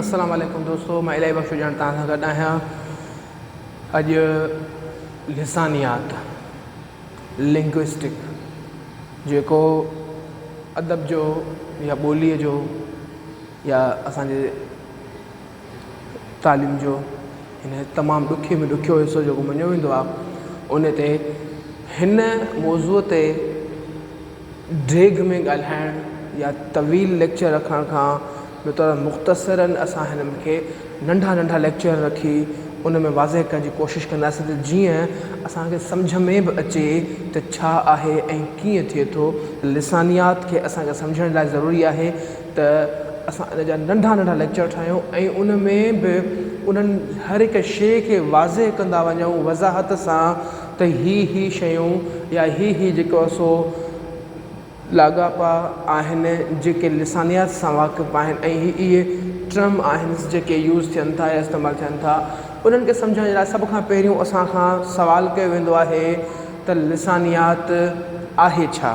السلام عليڪم دوستو مان الاهي بخش ڄڻ توهان سان گڏ آهيان اڄ لسانيات لنگوسٽڪ جيڪو ادب جو يا ٻوليء جو يا اسانجي تعليم جو هن تمام ڏکي ۾ ڏکيو حصو جيڪو مڃيو ويندو آهي ان تي هن موضوع تي ڊيگهه ۾ ڳالهائڻ يا طويل ليڪچر رکڻ کان بهتر مختصراً اسان هنن کي ننڍا ننڍا ليڪچر رکي ان ۾ واضح ڪرڻ جي ڪوشش ڪنداسين ته جيئن اسان کي سمجهه ۾ به اچي ته ڇا آهي ۽ ڪيئن ٿئي ٿو لسانيات کي اسان کي سمجهڻ لاء ضروري آهي ته اسان ان جا ننڍا ننڍا ليڪچر ٺاهيون ۽ ان ۾ به انهن هر هڪ شيء کي واضح ڪندا وڃون وضاحت سان ته هي هي شيون يا هي هي جيڪو سو لاڳاپا آهن جيڪي لسانيات سان واقف آهن ۽ هي اهي ٽرم آهن جيڪي يوز ٿين ٿا يا استعمال ٿين ٿا انهن کي سمجهڻ جي لاء سڀ کان پهريون اسان کان سوال ڪيو ويندو آهي ته لسانيات آهي ڇا؟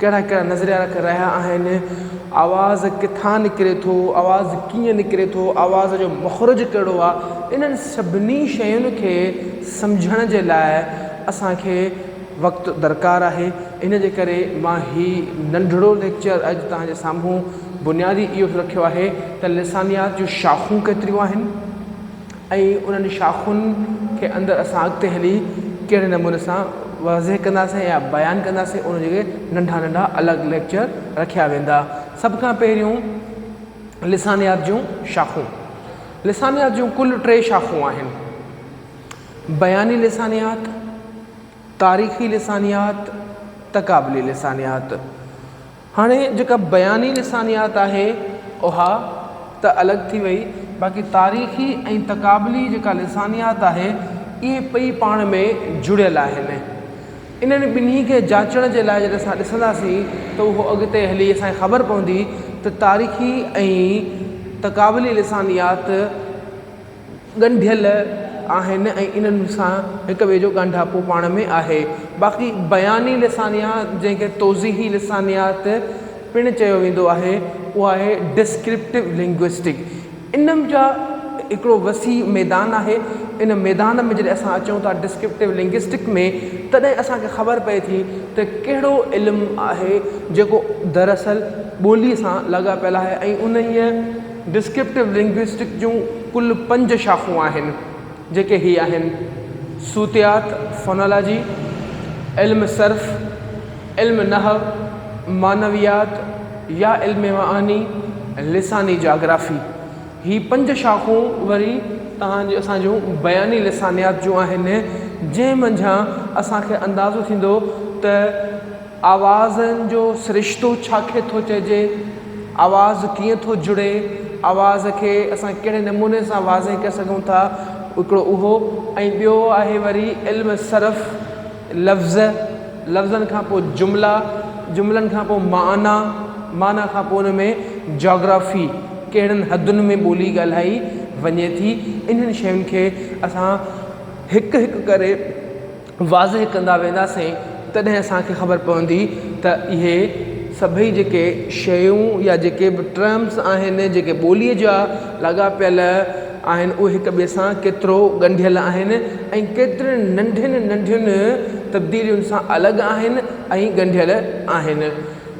ڪهڙا ڪهڙا نظريا رک رهيا آهن، آواز ڪٿان نڪري ٿو، آواز ڪيئن نڪري ٿو، آواز جو مخرج ڪهڙو آهي، انهن سڀني شين کي سمجهڻ جي لاء اسان کي وقت درڪار آهي، ان جي ڪري مان هي ننڍڙو ليڪچر اڄ توهان جي سامهون بنيادي اهو رکيو آهي ته لسانيات جون شاخون ڪيتريون آهن. ۽ انهن شاخن کي اندر اسان اڳتي هلي ڪهڙي نموني سان واضح ڪنداسين يا بيان ڪنداسين ان جي ننڍا ننڍا الڳ ليڪچر رکيا ويندا سڀ کان پهريون لسانيات جون شاخون لسانيات جون ڪل ٽي شاخون آهن بياني لسانيات تاريخي لسانيات تقابلي لسانيات هاڻي جيڪا بياني لسانيات آهي اها ته الڳ ٿي وئي باقي تاريخي ۽ تقابلي جيڪا لسانيات آهي اهي ٻئي پاڻ ۾ جڙيل آهن انهن ٻنهي کي جاچڻ جي لاء جڏهن اسان ڏسنداسين ته اهو اڳتي هلي اسان کي خبر پوندي ته تاريخي ۽ تقابلي لسانيات ڳنڍيل آهن ۽ انهن سان هڪ ٻئي جو ڳانڍاپو پاڻ ۾ آهي. باقي بياني لسانيات جنهن کي توضيحي لسانيات پڻ چيو ويندو آهي اهو آهي Descriptive Linguistic ان جا هڪڙو وسيع ميدان آهي ان ميدان ۾ جڏهن اسان اچون ٿا Descriptive Linguistic ۾ تڏهن اسان کي خبر پئي ٿي ته ڪهڙو علم آهي جيڪو دراصل ٻولي سان لاڳاپيل آهي ۽ انهيء ڊسڪرپٽو لنگوئسٽڪ جون ڪل پنج شاخون آهن، جيڪي هي آهن، صوتيات، Phonology، علم صرف، علم نحو، معنويات يا علم معاني، لساني جاگرافي. هي پنج شاخون وري توهان جون اسان جون بياني لسانيات جون آهن، جنهن منجهان اسان کي اندازو ٿيندو ته. آوازن جو سرشتو ڇا کي ٿو چئجي، آواز ڪيئن ٿو جڙي، آواز کي اسان ڪهڙي نموني سان واضح ڪري سگهون ٿا هڪڙو اهو ۽ ٻيو آهي وري علم صرف لفظ، لفظن کان پوء جملا، جملن کان پوء معنيٰ، معنيٰ کان پوء ان ۾ جاگرافي ڪهڙن حدن ۾ ٻولي ڳالهائي وڃي ٿي انهن شين کي اسان هڪ هڪ ڪري واضح ڪندا وينداسين تڏهن اسان کي خبر پوندي ته اهي سڀئي جيڪي شيون يا جيڪي به ٽرمس آهن جيڪي ٻوليء جا لاڳاپيل آهن اهي هڪ ٻئي سان ڪيترو ڳنڍيل آهن ۽ ڪيترين ننڍين ننڍين تبديلين سان الڳ آهن ۽ ڳنڍيل آهن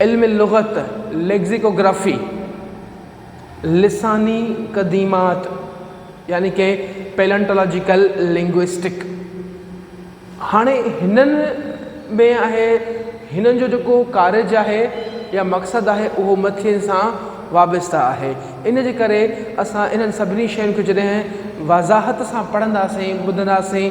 علم لغت، Lexicography، لساني قديمات يعني ڪي Paleontological Linguistic هاڻي هنن ۾ آهي هنن جو جيڪو ڪارج آهي يا مقصد آهي اهو مٿين سان وابسته آهي ان جي ڪري اسان انهن سڀني شين کي جڏهن وضاحت سان پڙهنداسين ٻڌنداسين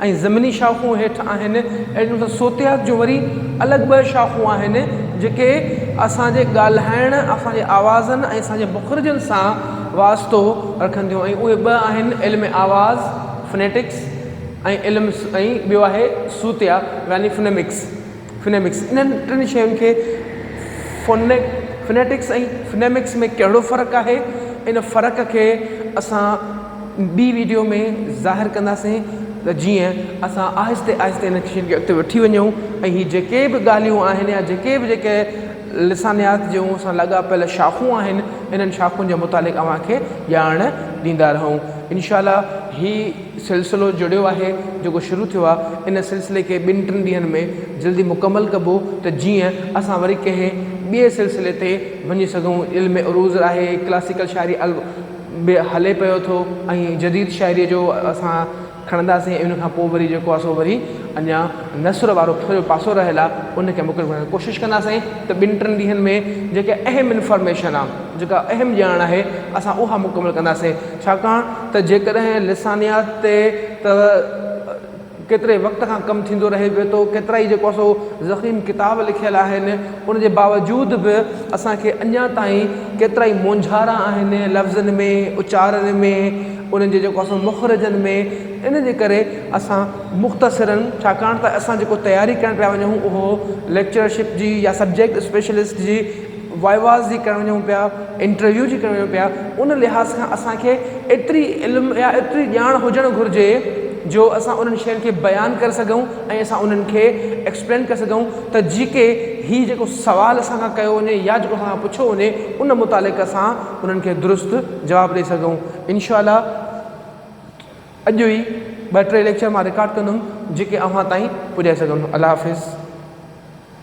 ۽ ضمني شاخون هيٺ آهن اهڙي طرح صوتيات جون وري الڳ ٻه شاخون آهن جيڪي اسان جي ڳالهائڻ اسان جي آوازن ۽ اسان جي مخرجن سان واسطو رکن ٿيون ۽ اهي ٻه آهن علم آواز Phonetics ۽ علم ۽ ٻيو آهي صوتيا يعني Phonemics Phonemics انهن ٽن شين کي Phonic Phonetics ۽ Phonemics ۾ ڪهڙو فرق آهي ان فرق کي اسان ٻي ويڊيو ۾ ظاهر ڪنداسين ته جيئن اسان آهستي آهستي ان شين کي اڳتي وٺي وڃون ۽ هي جيڪي به ڳالهيون آهن يا جيڪي به جيڪي لسانيات جون اسان لاڳاپيل شاخون آهن انهن شاخن جي متعلق اوهان کي ڄاڻ ڏيندا رهون انشاء الله هي سلسلو جڙيو آهي جيڪو شروع ٿيو آهي ان سلسلي کي ٻن ٽن ڏينهن ۾ جلدي مڪمل ڪبو ته جيئن اسان وري ڪنهن ٻئي سلسلي تي وڃي سگهون علم عروض آهي ڪلاسيڪل شاعري به هلي پيو ٿو ۽ جديد شاعريء جو اسان کڻنداسين ان کان پوء وري جيڪو آسو وري اڃا نثر وارو ٿورو پاسو رهيل آ ان کي مڪمل ڪرڻ ڪوشش ڪنداسين ته ٻن ٽن ڏينهن ۾ جيڪي اهم انفارميشن آ جيڪا اهم ڄاڻ آهي اسان اها مڪمل ڪنداسين ڇاڪاڻ ته جيڪڏهن لسانيات ته ڪيتري وقت کان ڪم ٿيندو رهي پيو ٿو ڪيترائي جيڪو سو ضخيم ڪتاب لکيل آهن ان جي باوجود به اسان کي اڃا تائين ڪيترائي مونجهارا آهن لفظن ۾ اچارن ۾ انهن جي جيڪو سو مخرجن ۾ ان جي ڪري اسان مختصرن ڇاڪاڻ ته اسان جيڪو تياري ڪرڻ پيا وڃون اهو ليڪچرشپ جي يا سبجيڪٽ اسپيشلسٽ جي وائواز جي ڪرڻ وڃون پيا انٽرويو جي ڪرڻ وڃون پيا ان لحاظ کان اسانکي ايتري علم يا ايتري ڄاڻ هجڻ گهرجي جو اسان انهن شين کي بيان ڪري سگهون ۽ اسان انهن کي ايڪسپلين ڪري سگهون ته جي ڪي هي جيڪو سوال اسان کان ڪيو وڃي يا جيڪو اسان کان پڇيو وڃي ان متعلق اسان انهن کي درست جواب ڏئي سگهون انشاء الله اڄ ئي ٻه ٽي ليڪچر مان رڪارڊ ڪندم جي ڪي اوهان تائين پڄائي سگهندم الله حافظ